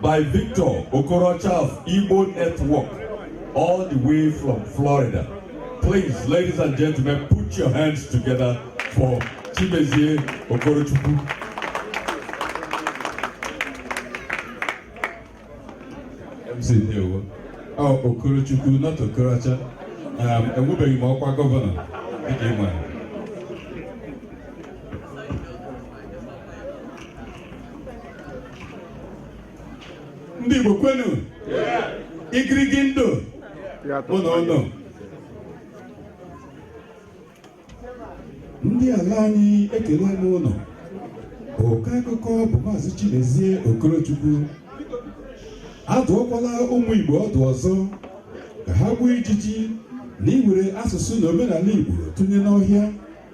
by Victor Okorocha of Igbo Network all the way from Florida. Please, ladies and gentlemen, put your hands together for Chimezie Okorochukwu. MC Ndewo. Oh, Okorochukwu, not Okorocha. Um, enwebeghị m ọkwa gọvanọ dịka ị nwere. ndị Igbo kwenu igirigi ndụ ụnụ ụnụ ndị ala anyị ekelee m ụnụ ọkọ akụkọ bụ maazị Chimezie Okorochukwu adụọkwala ụmụ Igbo ọdụ ọzọ ka ha gbuo ijiji na iwere asụsụ na omenala Igbo tụnye n'ọhịa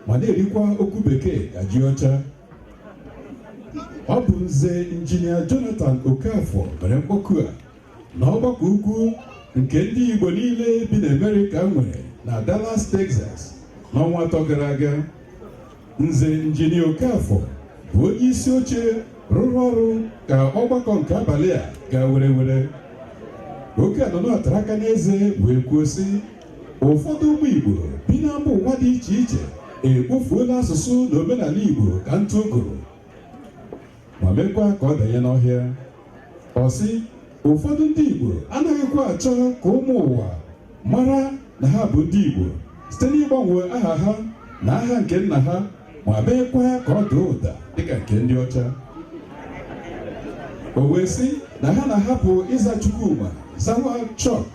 ma na-erikwa okwu bekee ka ji ọcha ọ bụ nze injinia Jonathan Okafor mere mkpọku a na ọgbakọ ukwu nke ndị Igbo niile bi na Amerịka nwere na Dallas Texas n'ọnwa atọ gara aga nze injinia Okafor bụ onye isi oche rụrụ ọrụ ka ọgbakọ nke abalị a gaa werewere oge a nọ na ya tara aka n'eze wee kwuo sị ụfọdụ ụmụ Igbo bi na mba ụwa dị iche iche ekpofuola asụsụ na omenala Igbo ka ntụ ogoro ma meekwa ka ọ danye n'ọhịa ọ sị ụfọdụ ndị Igbo anaghịkwa achọ ka ụmụ ụwa mara na ha bụ ndị Igbo site n'ịgbanwe aha ha na aha nke nna ha ma meekwa ya ka ọ daa ụda dịka nke ndị ọcha o wee sị na ha na-ahapụ ịza Chukwuma zawa Chuck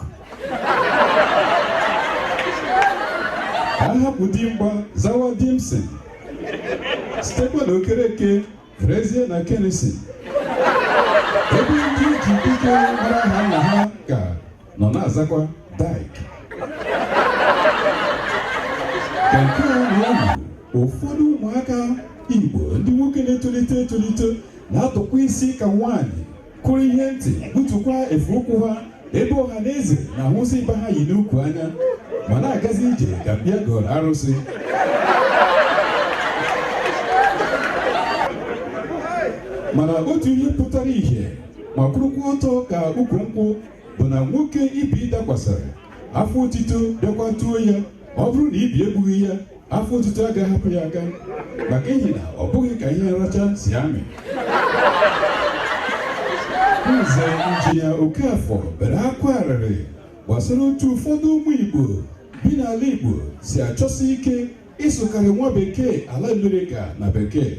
ha ahapụ Dimgba zawa Dimson sitekwa na Okereke ferezie na kenisi ebe ndị e ji Dike mara aha nna ha ka nọ na-azakwa Dyke ka nke a na-ewu ụfọdụ ụmụaka Igbo ndị nwoke na-etolite etolite na-atụkwa isi ka nwaanyị kụrụ ihe ntị butukwa efe ụkwụ ha ebe ọha na eze na-ahụsị ịba ha yi n'ukwu anya ma na-agazi ije ka bịa gọrọ arụsị mana otu ihe pụtara ìhè ma kwụrụkwa ọtọ ka ukwu nkwụ bụ na nwoke ibi dakwasara afọ otito bịakwa tuo ya ọ bụrụ na ibi egbughị ya afọ otito agaghị hapụ ya aka maka ihi na ọ bụghị ka ihe nracha si amị nze injinia Okafọ bere akwa arịrị gbasara otu ụfọdụ ụmụ Igbo bi n'ala Igbo si achọsi ike ịsụkarị nwa bekee ala Amerịka na bekee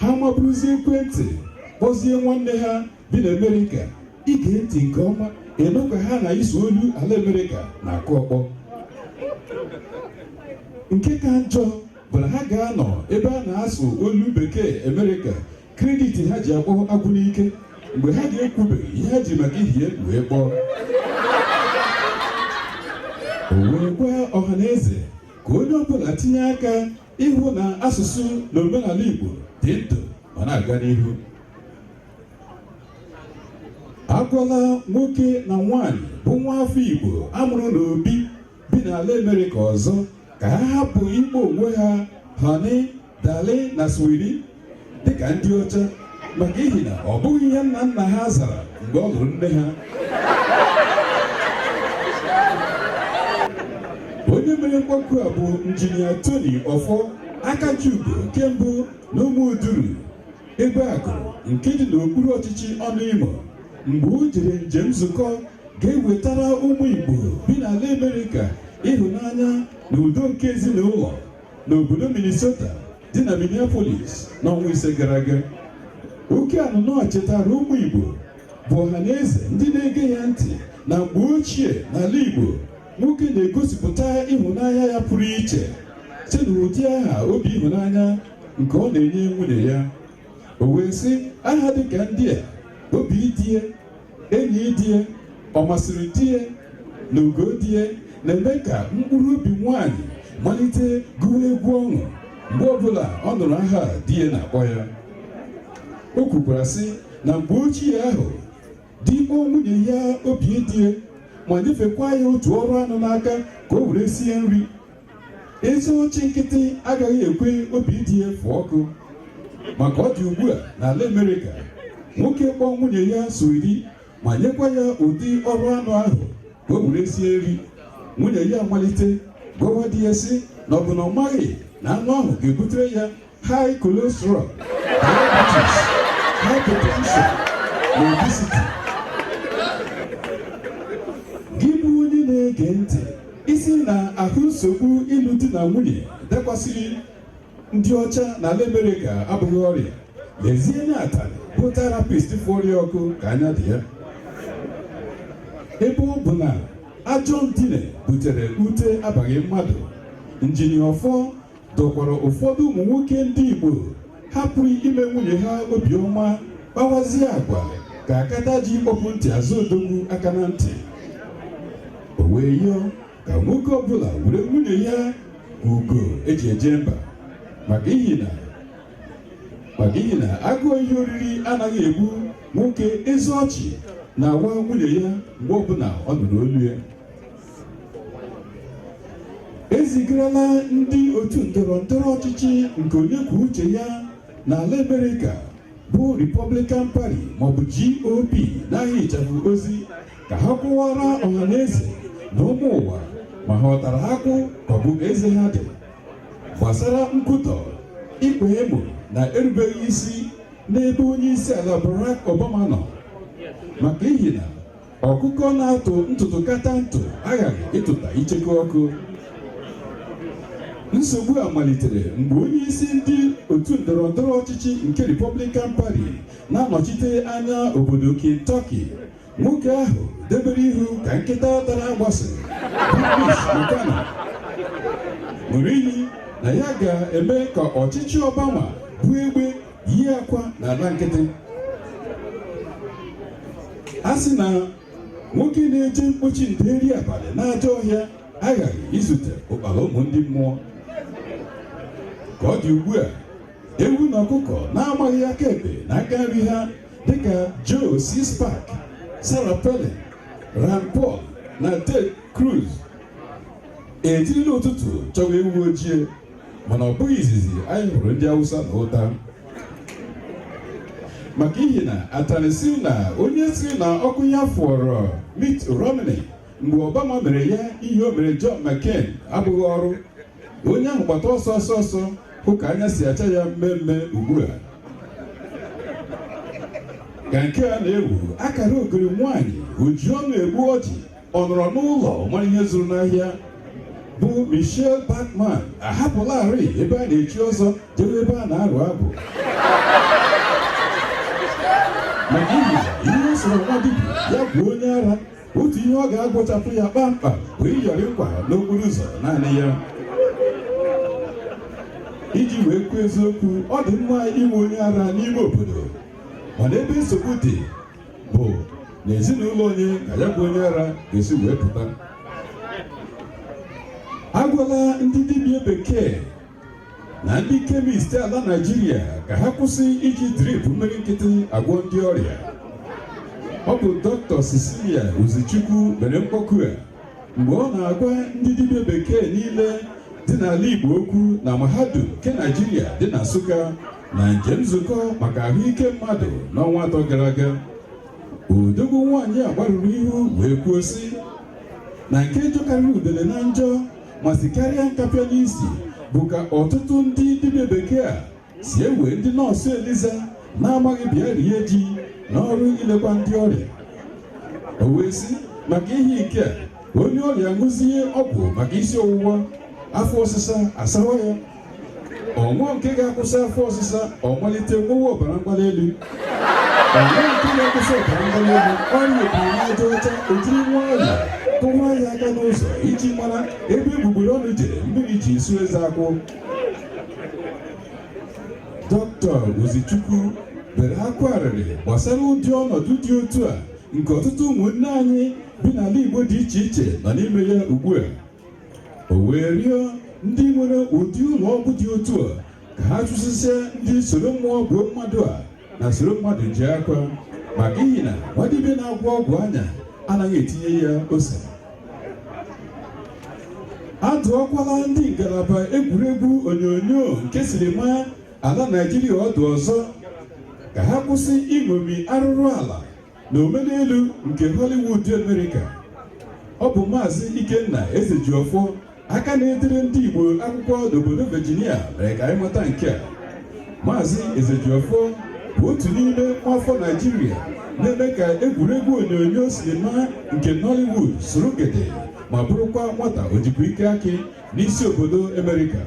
ha maburuzie ekwentị kpọzie nwanne ha bi n'Amerịka i gee ntị nke ọma ị nụ ka ha na ịsụ olu ala Amerịka na-akụ ọkpọ nke ka njọ bụ na ha ga-anọ ebe a na-asụ olu bekee Amerịka credit ha ji akpọ agwụ n'ike mgbe ha ga-ekwubeghị ihe ha ji maka ihi ya wee kpọọ o wee gwa ọha na eze ka onye ọbụla tinye aka ịhụ na asụsụ na omenala Igbo dị ndụ ma na-aga n'ihu agwala nwoke na nwaanyị bụ nwa afọ Igbo amụrụ n'obi bi n'ala Amerịka ọzọ ka ha hapụ ịkpọ onwe ha honey darling na sweetie dịka ndị ọcha maka ihi na ọ bụghị ihe nna nna ha zara mgbe ọ lụrụ nne ha onye mere mkpọku a bụ injinia Tony Ọfọ Akajiugo nke mbụ na Ụmụduru Egbeagụrụ nke dị n'okpuru ọchịchị Ọnụimo mgbe o jere njem nzukọ ga-ewetara ụmụ igbo bi n'ala amerịka ịhụnanya na udo nke ezinụlọ n'obodo minnesota dị na minneapolis n'ọnwa ise gara aga oke anụnọ chetara ụmụ igbo bụ ọha na eze ndị na-ege ya ntị na mgbe ochie n'ala igbo nwoke na-egosipụta ịhụnanya ya pụrụ iche site n'ụdị aha obi ịhụnanya nke ọ na-enye nwunye ya o wee sị aha dịka ndị a obi die enyi die ọ masịrị die na ugo die na-eme ka mkpụrụ obi nwanyị malite gụwa egwu ọṅụ mgbe ọbụla ọ nụrụ aha di ya na-akpọ ya o kwukwara sị na mgbe ochie ahụ di kpọọ nwunye ya obi die ma nyefekwa ya otu ọrụ anụ n'aka ka o were sie nri ezi ọchị nkịtị agaghị ekwe obi die fụọ ọkụ ma ka ọ dị ugbu a n'ala Amerịka nwoke kpọọ nwunye ya sweetie ma nyekwa ya ụdị ọrụ anụ ahụ ka o were sie nri nwunye ya amalite gwawa di ya sị na ọ bụ na ọ maghị na anụ ahụ ga-ebutere ya high cholesterol, diabetes, hypertension, na obesity. Gị bụ onye na-ege ntị ị sị na ahụ nsogbu ịlụ di na nwunye dakwasịrị ndị ọcha na ala Amerịka abụghị ọrịa lezie anya atalị bụ therapist fụ ọrịa ọkụ ka anya dị ya ebe ọ bụ na ajọ ndine butere ute abaghị mmadụ injinia Ọfọ dọkwara ụfọdụ ụmụ nwoke ndị Igbo hapụrụ ime nwunye ha obiọma kpawazie agwa ka akata ji kpọpụ ntị azụ odogwu aka na ntị o wee yọọ ka nwoke ọbụla were nwunye ya ugo eji eje mba maka ihi na agụụ ihe oriri anaghị egbu nwoke ezi ọchị na-awa nwunye ya mgbe ọbụla ọ nụrụ olu ya e zigarala ndị otu ndọrọ ndọrọ ọchịchị nke onye kwuo uche ya n'ala Amerịka bụ Republican Party maọbụ GOP n'aha ịchafụ ozi ka ha kwuwaara ọha na eze na ụmụ ụwa ma ha ọ tara akwụ ka ọ bụ eze ha dị gbasara nkwutọ ikpe emo na erubeghị isi n'ebe onye isi ala Barack Obama nọ maka ihi na Ọkụkọ na-atụ ntụ tụkata ntụ aghaghị ịtụta icheku ọkụ. Nsogbu a malitere mgbe onye isi ndị otu ndọrọ ndọrọ ọchịchị nke Republican Party na-anọchite anya obodo Kentucky. Nwoke ahụ debere ihu ka nkịta tara agbụsị bụ Mitch McConnell ṅụrụ iyi na ya ga-eme ka ọchịchị Obama bụ egbe yi akwa n'ala nkịtị a sị na nwoke na-eje mkpochi nderi abalị n'ajọ ọhịa aghaghị izute ụkpara ụmụ ndị mmụọ ka ọ dị ugbu a ewu na ọkụkọ na-amaghị aka ekpe na aka nri ha dịka Joe Sixpack Sarah Palin Rand Paul na Ted Cruz ejirila ụtụtụ chọwa ewu ojii mana ọ bụghị izizi anyị hụrụ ndị Awụsa na ụta maka ihi na atanị sị na onye sịrị na ọkụ ya fụọrọ Mitt Romney mgbe Obama mere ya ihe o mere John McCain abụghị ọrụ onye ahụ gbata ọsọ ọsọ ọsọ hụ ka anya si acha ya mmee mmee ugbu a ka nke a na-ewu akara ogori nwaanyị oji ọnụ egbu ọjị ọ nọrọ n'ụlọ mara ihe zụrụ n'ahịa bụ Michele Bachmann ahapụlarị ebe a na-echi ọzọ jewe ebe a na-arụ agwụ maka ihi ihe ọ sọrọ nwa dibịa ya gwọọ onye ara otu ihe ọ ga-agwọchapụ ya kpamkpam bụ ịyọrị nkwa n'okporo ụzọ naanị ya iji wee kwuo eziokwu ọ dị mma inwe onye ara n'ime obodo mana ebe nsogbu dị bụ na ezinụlọ onye ka ya bụ onye ara ga-esi wee pụta agwala ndị dibịa bekee na ndị kemist ala naijiria ka ha kwụsị iji drip mmiri nkịtị agwọ ndị ọrịa ọ bụ dọkịta Cecilia Ozichukwu mere mkpọku a mgbe ọ na-agwa ndị dibịa bekee niile dị n'ala Igbo okwu na mahadum nke Naijiria dị na Nsụka na njem nzukọ maka ahụike mmadụ n'ọnwa atọ gara aga odogwu nwaanyị a gbarụrụ ihu wee kwuo sị na nke jọkarịrị udele na njọ ma sikarịa nkapịa n'isi bụ ka ọtụtụ ndị dibịa bekee a si ewe ndị nọọsụ eliza na-amaghị bịa rie ji n'ọrụ ilekwa ndị ọrịa o wee sị maka ihe nke a onye ọrịa ṅụzie ọgwụ maka isi ọwụwa afọ ọsịsa asawa ya ọ ṅụọ nke ga-akwụsị afọ ọsịsa ọ malite nwewe ọbara mgbali elu ọ ṅụọ nke ga-akwụsị ọbara mgbali elu ọrịa obiri n'aja ọcha ejiri nwayọ kụwa ya aka n'ụzọ iji mara ebe egbugbere ọnụ jere mmiri ji isu eze akwụ dọkịta ozichukwu bere akwa arịrị gbasara ụdị ọnọdụ dị otu a nke ọtụtụ ụmụnne anyị bi n'ala igbo dị iche iche nọ n'ime ya ugbu a o wee rịọ ndị nwere ụdị ụlọ ọgwụ dị otu a ka ha chụsịsịa ndị soro mmụọ gbuo mmadụ a na soro mmadụ je akwa maka ihi na nwadibịa na-agwọ ọgwụ anya anaghị etinye ya ose a dụọkwala ndị ngalaba egwuregwu onyonyo nke silima ala naijiria ọdụ ọzọ ka ha kwụsị iṅomi arụrụ ala na omenelu nke Hollywood America ọ bụ maazị Ikenna Ezejiọfọ aka na-edere ndị Igbo akwụkwọ n'obodo Virginia mere ka anyị mata nke a maazị Ezejiọfọ bụ otu n'ime nwaafọ Naijiria na-eme ka egwuregwu onyonyo sinima nke Nollywood soro gede ma bụrụkwa nwata ojikwa ike akị n'isi obodo Amerịka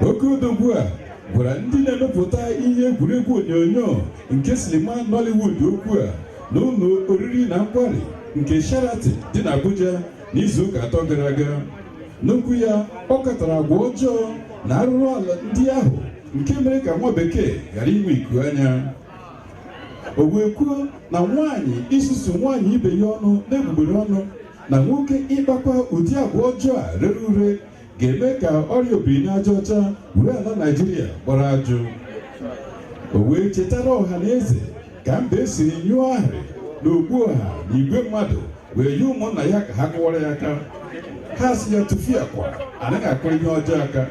oke odogwu a gwara ndị na-emepụta ihe egwuregwu onyonyo nke sinima Nollywood okwu a n'ụlọ oriri na nkwari nke Sheraton dị n'Abuja n'izu ụka atọ gara aga n'okwu ya ọ katara agwa ọjọọ na arụrụ ala ndị ahụ nke mere ka nwa bekee ghara inwe iku anya o wee kwuo na nwaanyị isusu nwaanyị ibe ya ọnụ n'egbugbere ọnụ na nwoke ịkpakwa ụdị agwa ọjọọ a rere ure ga-eme ka ọrịa obiri n'aja ọcha were ala Naịjirịa gbara ajụ o wee chetara ọha na eze ka mbe siri nyụọ ahịrị n'ọgbọ ọha na igwe mmadụ wee nye ụmụnna ya ka ha kụwara ya aka ha sị ya tụfịakwa anaghị akụrụ ihe ọjọọ aka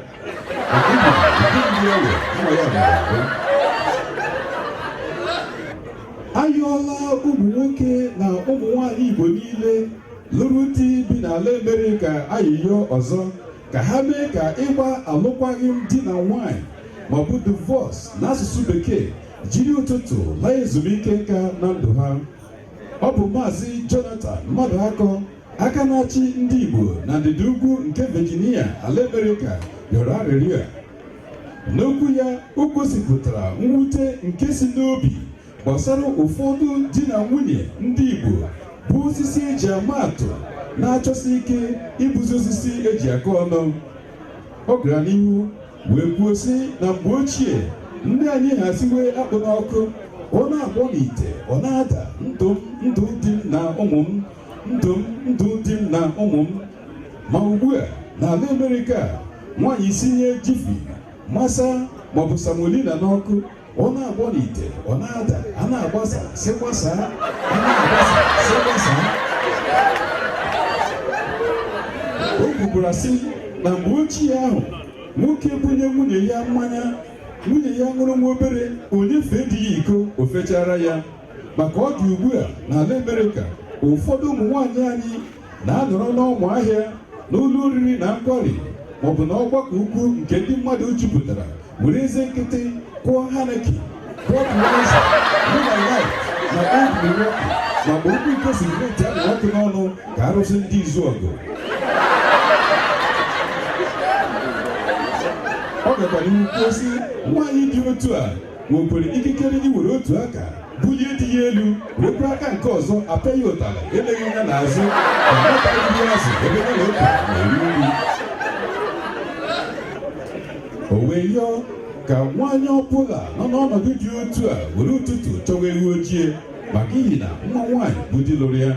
ayọọla ụmụ nwoke na ụmụ nwanyị Igbo niile lụrụ di bi n'ala Amerịka ayịyọ ọzọ ka ha mee ka ịgba alụkwaghịm di na nwanyị maọbụ divorce n'asụsụ bekee jiri ụtụtụ laa ezumike nka na ndụ ha ọ bụ maazị Jonathan Mmadụakọ aka na-achị ndị Igbo na ndịda ugwu nke Virginia ala Amerịka rịọrọ arịrịọ a n'okwu ya o gosipụtara mwute nke si n'obi gbasara ụfọdụ di na nwunye ndị Igbo bụ osisi eji ama atụ na-achọsi ike ịbụzi osisi eji akọ ọnụ ọ gara n'ihu wee kwuo sị na mgbe ochie ndị anyị ha siwe akpụ n'ọkụ ọ na-agbọ n'ite ọ na-ada ndụ m ndụ di m na ụmụ m ndụ m ndụ di m na ụmụ m ma ugbu a n'ala Amerịka nwaanyị sinye Jiffy masa maọbụ semolina n'ọkụ ọ na-agbọ n'ite ọ na-ada a na-agbasa sị gbasaa a na-agbasa sị gbasaa o kwukwara sị na mgbe ochie ahụ nwoke bunye nwunye ya mmanya nwunye ya ṅụrụ nwa obere o nyefee di ya iko o fechara ya ma ka ọ dị ugbu a n'ala Amerịka ụfọdụ ụmụ nwaanyị anyị na-anọrọ n'ọmụ ahịa n'ụlọ oriri na nkwari maọbụ na ọgbakọ ukwu nke ndị mmadụ jupụtara were eze nkịtị kụọ Heineken kụọ Budweiser Miller Lite na Old Milwaukee ma mgbe okwu iko cigarette na-enwu ọkụ n'ọnụ ka arụsị ndị Izuọgụ ọ gakwara n'ihu kwuo sị nwaanyị dị otu a nwekwara ikikere iwere otu aka bulie di ya elu werekwa aka nke ọzọ apịa ya ụtarị eleghị anya n'azụ ka nwata nri azụ ebe ya na ụka na-eri nri o wee yọọ ka nwaanyị ọbụla nọ n'ọnọdụ dị otu a were ụtụtụ chọwa ewu ojii maka ihi na mma nwaanyị bụ di lụrụ ya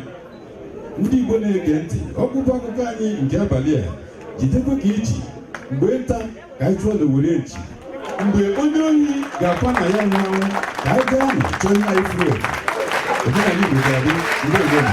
ndị Igbo na-ege ntị ọgwụgwụ akụkọ anyị nke abalị a jidekwa ka i ji mgbe nta ka anyị chụọ n'owere nchi mgbe onye ohi ga-akwa na ya nyanwụ ka anyị gaa nụ chọọ ihe anyị furu efu omenala Igbo ga-adị ndeewo nụ